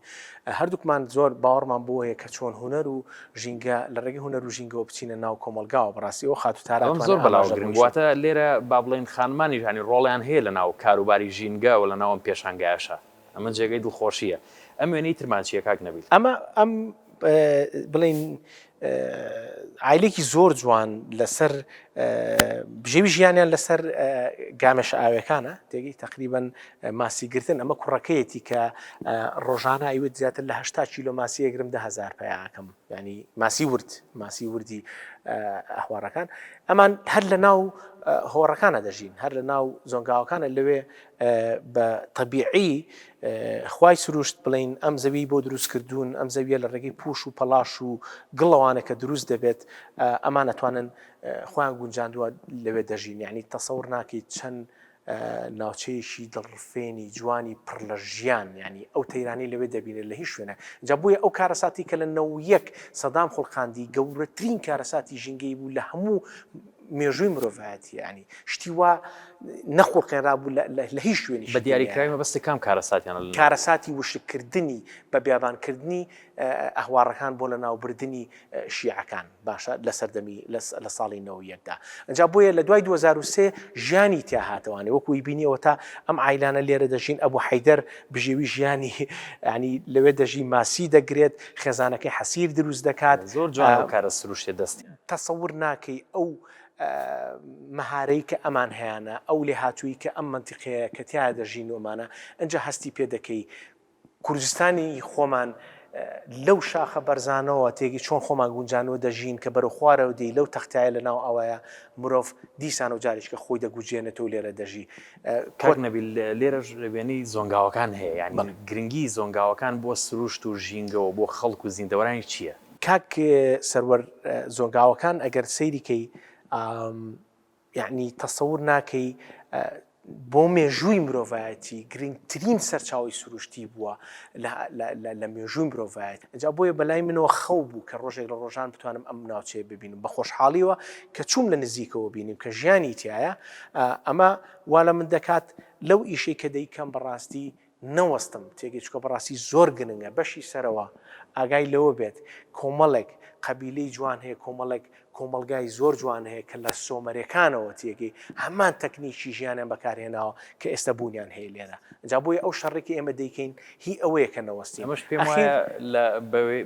هەردووکمان زۆر باوەڕمان بەوە هەیە کە چۆن هونەر و ژینگە لە ڕێگەی هونەر و ژینگەوە بچینە ناو کۆمەڵگاوە بەڕاستی ئەو خاتو تارا ئەم زۆر بەلاوە گرنگ واتە لێرە با بڵێن خانمانی ژانی ڕۆڵیان هەیە لە ناو کاروباری ژینگە و لە ناو ئەم پێشانگایشە ئەمە جێگەی دڵخۆشیە ئەم وێنەی ترمان چیە کاک نەبیل ئەمە ئەم بڵین ئایلێکی زۆر جوان لەسەر بژێوی ژیانیان لەسەر گامێشە ئاوێکانە تێگەی تقریبن ماسی گرتن، ئەمە کوڕەکەیەتی کە ڕۆژانە ئەیوت زیاتر لە هەشتا کیلۆ ماسی ئەگرم دە هەزار پیا ئەکەم، یانی ماسی ورد، ماسی وردی ئەهوارەکان، ئەمان هەر لە ناو هۆڕەکانە دەژین، هەر لە ناو زۆنگاوەکانە لەوێ بە تەبیعی خوای سروشت بڵین ئەم زەوی بۆ دروست کردوون، ئەم زەویە لە ڕێگەی پوش و پەڵاش و گڵەوانە کە دروست دەبێت ئەمان ئەتوانن خۆیان گونجاندووە لەوێ دەژین، یعنی تەسەور ناکەیت چەند ناوچەیەکی دڵڕفێنی جوانی پڕ لە ژیان یانی ئەو تەیرانەی لەوێ دەبینرێت لە هیچ شوێنێک جا بۆیە ئەو کارەساتی کە لە نەوەد و یەک سەدام خوڵقاندی گەورەترین کارەساتی ژینگەیی بوو لە هەموو مێژووی مرۆڤایەتی یانی شتی وا نەخوڵقێنرابوو لە هیچ شوێنی بە دیاریکراوی مەبەستی کام کارەساتیان کارەساتی وشککردنی بە بیابانکردنی ئەهواڕەکان بۆ لەناوبردنی شیعەکان باشە لە سەردەمی لە ساڵی نۆ و یەکدا ئەجا بۆیە لە دوای 2023 ژیانی تیا هاتەوانێ وەکوی بینیەوە تا ئەم عیلانە لێرە دەژین ئەبوو حیدەر بژێوی ژیانی ینی لەوێ دەژی ماسی دەگرێت خێزانەکەی حەسیر دروست دەکات زۆر جوان کارە سروشتێ دەستی تەسەور ناکەی ئەو مەهارەی کە ئەمان هەیەە ئەو لێ هاتووی کە ئەم منتیقەیە کە تیا دەژین ومانە ئەجا هەستی پێ دەکەی کوردستانی خۆمان لەو شاخە بەرزانەوە تێگەی چۆن خۆمان گونجانوە دەژین کە بەرەو خوارەوە دێی لەو تەختایە لە ناو ئاوایە مرۆڤ دیسانەوە جارێکیکە خۆی دەگوجێنێتەوە لێرە دەژی. کاک نەبیل لێرەش وێنەی زۆنگاوەکان هەیە یانی گرنگی زۆنگاوەکان بۆ سروشت و ژینگە و بۆ خەڵک و زیندەوەرانی چییە؟ کاک سەروەر زۆنگاوەکان ئەگەر سەیری کەی یەعنی تەسەور ناکەی بۆ مێژووی مرۆڤایەتی گرنگترین سەرچاوەی سروشتی بووە لە مێژووی مرۆڤایەت ئەجا بۆیە بەلای منەوە خەو بوو کە ڕۆژێک لە ڕۆژان بتوانم ئەم ناوچەیە ببینم بە خۆشحاڵیەوە کە چووم لە نزیکەوە بینیم کە ژیانی تایە ئەمە وا لە من دەکات لەو ئیشەی کە دەیکەم بەڕاستی نەوەستم تێگەی چکە بەڕاستی زۆر گرنگە بەشی سەرەوە ئاگای لەوە بێت کۆمەڵێک قەبیلەی جوان هەیە کۆمەڵێک کۆمەڵگای زۆر جوان هەیە کە لە سۆمەرەکانەوە تێگەی هەمان تەکنیکی ژیانیان بەکارهێناوە کە ئێستا بوونیان هەیە لێرە ئەجا بۆیە ئەو شەڕی کە ئێمە دەیکەین هی ئەوەیە کە نەوەستین ئەمەش پێم وایە لە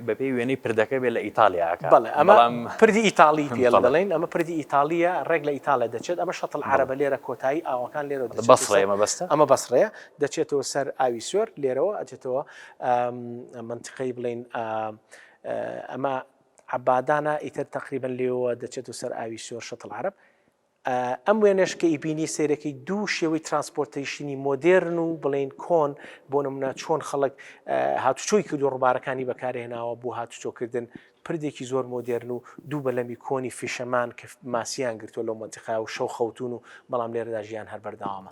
بەپێی وێنەی پردەکە بێ لە ئیتالیا ئەکا بەڵێ ئەمە پردی ئیتاڵی پێ دەڵێن ئەمە پردی ئیتاڵیە ڕێک لە ئیتاڵیا دەچێت ئەمە شەتڵ عەرەبە لێرە کۆتایی ئاوەکان لێرە بەسڕێ مەبەستە ئەمە بەسڕەیە دەچێتەوە سەر ئاوی سۆر لێرەوە ئەچێتەوە منتقەی بڵین ئەمە عبادانە ئیتر تقریبن لێەوە دەچێت و سەر ئاوی سۆر شتڵ عرب ئەم وێنش کە ئیبینی سیرەکەی دوو شێوەی ترانسپۆرتیشنی مۆدررن و بڵین کۆن بۆ نمونە چۆن خەڵک هاتوچۆی کردو ڕوبارەکانی بەکارهێناوە بۆ هاتوچۆکردن پردێکی زۆر مۆدێرن و دوو بەلەمی کۆنی فیشەمان کە ماسیان گرتووە لەو مەنتیقا و شەو خەوتوون و بەڵام لێرەدا ژیان هەر بەردەوامە.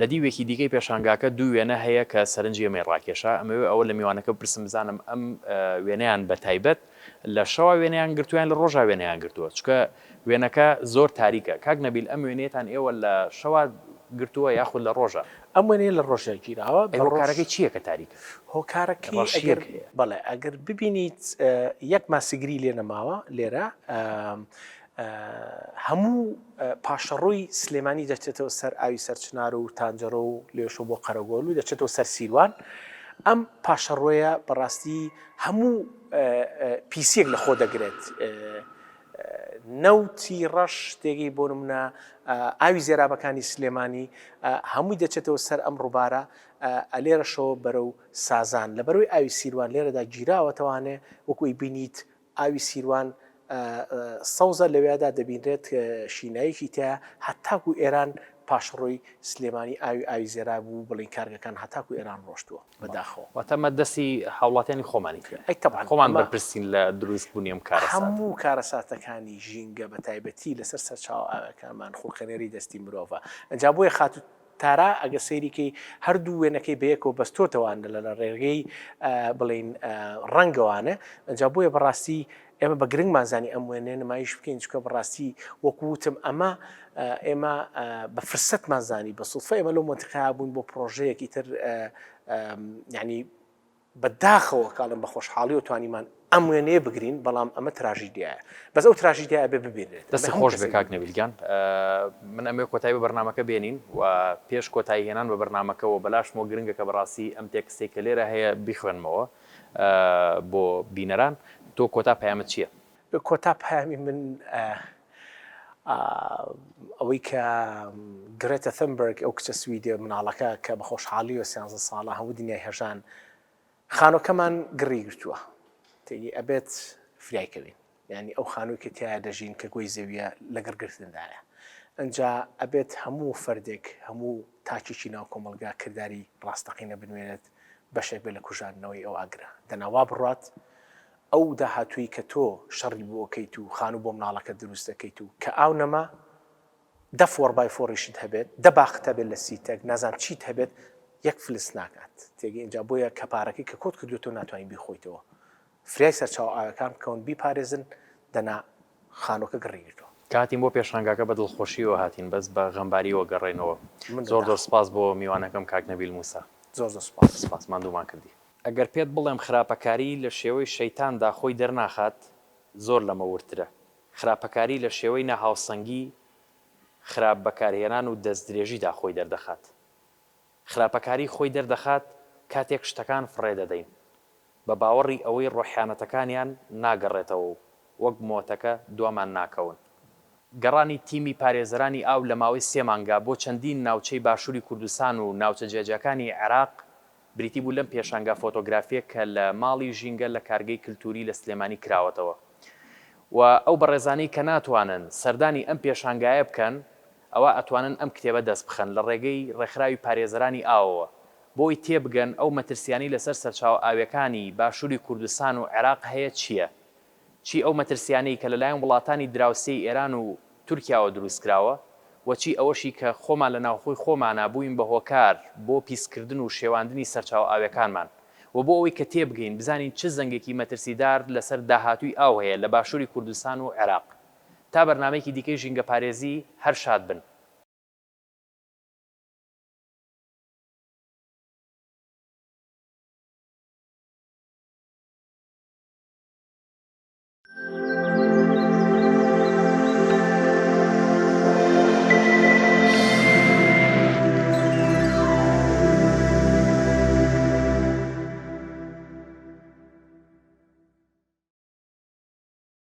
لە دیوێکی دیکەی پێشانگاکە دوو وێنە هەیە کە سەرنجی ئێمەی ڕاکێشا، ئەمەوێ ئەوە لە میوانەکە بپرسم بزانم ئەم وێنەیان بە تایبەت لە شەوا وێنەیان گرتووە یان لە ڕۆژا وێنەیان گرتووە؟ چونکە وێنەکە زۆر تاریکە. کاک نەبیل ئەم وێنەیەتان ئێوە لە شەوا گرتووە یاخود لە ڕۆژا؟ ئەم وێنەیە لە ڕۆژا گیراوە. ئەی هۆکارەکەی چییە کە تاریکە؟ هۆکارەکەی ئەگەر بەڵێ ئەگەر ببینیت یەک ماسیگری لێ نەماوە لێرە هەموو پاشەڕۆی سلێمانی دەچێتەوە سەر ئاوی سەرچنار و تانجەرۆ و لێشۆ بۆ قەرەگۆل و دەچێتەوە سەر سیروان، ئەم پاشەڕۆیە بەڕاستی هەموو پیسییەک لە خۆ دەگرێت، نەوتی ڕەش تێگەی بۆ نمونە ئاوی زێرابەکانی سلێمانی هەمووی دەچێتەوە سەر ئەم ڕووبارە ئەلێرەشەوە بەرەو سازان لە بەرەوەی ئاوی سیروان لێرەدا گیراوەتەوانێ وەکوی بینیت ئاوی سیروان سەوزە لەوێدا دەبینرێت شینایەکی تیایە هەتاکو ئێران پاشڕۆی سلێمانی ئاوی ئاوی زێرا بوو بڵین کارگەکان هەتاکو ئێران ڕۆشتووە بەداخەوە. واتە ئەمە دەستی هاوڵاتیانی خۆمانی تیایە. ئەی تەبعەن. خۆمان بەرپرسین لە دروست بونی ئەم کارەساتە. هەموو کارەساتەکانی ژینگە بەتایبەتی لەسەر سەرچاوە ئاویەکانمان خولقێنەری دەستی مرۆڤە ئەجا بۆیە خاتو تارا ئەگەر سەیری کەی هەردوو وێنەکەی بەیەکەوە بەستۆتەوە ئەندە لە لەڕێگەی بڵێین ڕەنگەوانە ئەجا بۆیە بەڕاستی ئێمە بە گرنگمان زانی ئەم وێنێ نمایش بکەین چکە بەڕاستی وەکووتم ئەمە ئێمە بە فرسەتمان زانی بە سوفە ئێمە لەو مۆنتقا بوون بۆ پرۆژەیەکی تر ینی بە داخەوە کاڵێم بە خۆشحاڵیەوە توانیمان ئەم وێنەیە بگرین بەڵام ئەمە تراژیدیایە بەس ئەو تراژیدیا ئەبێ ببینرێت دەستی خۆش بێ کاک نەویل گیان من ئەمێ کۆتایی بە بەرنمەکە بێنین و پێش کۆتایی هێنان بە بەرنمەکەەوە بەلاشمەوە گرنگە کە بەڕاستی ئەم تێکستێک کە لێرە هەیە بیخوێنمەوە بۆ بینەران تۆ کۆتا پەیامت چییە؟ کۆتا پەیامی من ئەوەی کە گرێتە ثەمبەرگ ئەو کچە سویدیە مناڵەکە کە بە خۆشحاڵیەوە سیانزە ساڵە هەموو دنیای هەژان خانۆکەمان گڕی گرتووە تێگەی ئەبێت فریایکەوین ینی ئەو خانووی کە تیا دەژین کە گۆی زەویە لە گڕگرتندایە ئەجا ئەبێت هەموو فەردێک هەموو تاچیی ناو کۆمەلگا کردداری ڕاستەقینە بنوێنێت بەشێک بێ لە کوژاندنەوەی ئەو ئاگرە دەناوا بڕات ئەو داهاتووی کە تۆ شەڕی بۆ ئەکەیت و خانوو بۆ مناڵەکەت دروست ئەکەیت و کە ئاو نەما دە فۆڕ بای فۆڕیشت هەبێت دە باخت هەبێت لە سی تەک نازانم چیت هەبێت یەک فلس ناکات تێگەی ئینجا بۆیە کە پارەکەی کە کۆت کردووە تۆ ناتوانی بیخۆیتەوە فریای سەرچاوە ئاوەکان بکەون بیپارێزن دەنا خانوەکە گڕی گرتوە. کاتیم بۆ پێشانگاکە بە دڵخۆشیەوە هاتین بەس بە غەمباریەوە گەڕێنەوە زۆر زۆر سپاس بۆ میوانەکەم کاک نەبیل موسا زۆر زۆر سپاس سپاس ماندوومان کردی. ئەگەر پێت بڵێم خراپەکاری لە شێوەی شەیتان دا خۆی دەرناخات زۆر لەمە وردترە خراپەکاری لە شێوەی ناهاوسەنگی خراپ بەکارهێنان و دەست درێژی دا خۆی دەردەخات. خراپەکاریی خۆی دەردەخات کاتێک شتەکان فڕێ دەدەین بە باوەڕی ئەوەی ڕۆحیانەتەکانیان ناگەڕێتەوە و وەک مۆتەکە دوامان ناکەون. گەڕانی تیمی پارێزەرانی ئاو لە ماوەی سێ مانگا بۆ چەندین ناوچەی باشووری کوردستان و ناوچە جیاجیاکانی عێراق بریتی بوو لەم پێشانگا فۆتۆگرافییە کە لە ماڵی ژینگە لە کارگەی کلتووری لە سلێمانی کراوەتەوە و ئەو بەڕێزانەی کە ناتوانن سەردانی ئەم پێشانگایە بکەن ئەوا ئەتوانن ئەم کتێبە دەست بخەن لە ڕێگەی ڕێکخراوی پارێزەرانی ئاوەوە بۆ ی تێبگەن ئەو مەترسیانەی لەسەر سەرچاوە ئاویەکانی باشوری کوردستان و عێراق هەیە چیە چی ئەو مەترسیانەی کە لەلایەن وڵاتانی دراوسێی ئێران و تورکیاوە دروستکراوە و چی ئەوەشی کە خۆمان لە ناوخۆی خۆمانا بوین بە هۆکار بۆ پیسکردن و شێواندنی سەرچاوە ئاویەکانمان و بۆ ئەوەی کە تێبگەین بزانین چ زەنگێکی مەترسیدار لەسەر داهاتوی ئاو هەیە لە باشوری کوردستان و عێراق. تا بەرنامەیەکی دیکەی ژینگە پارێزی هەر شاد بن.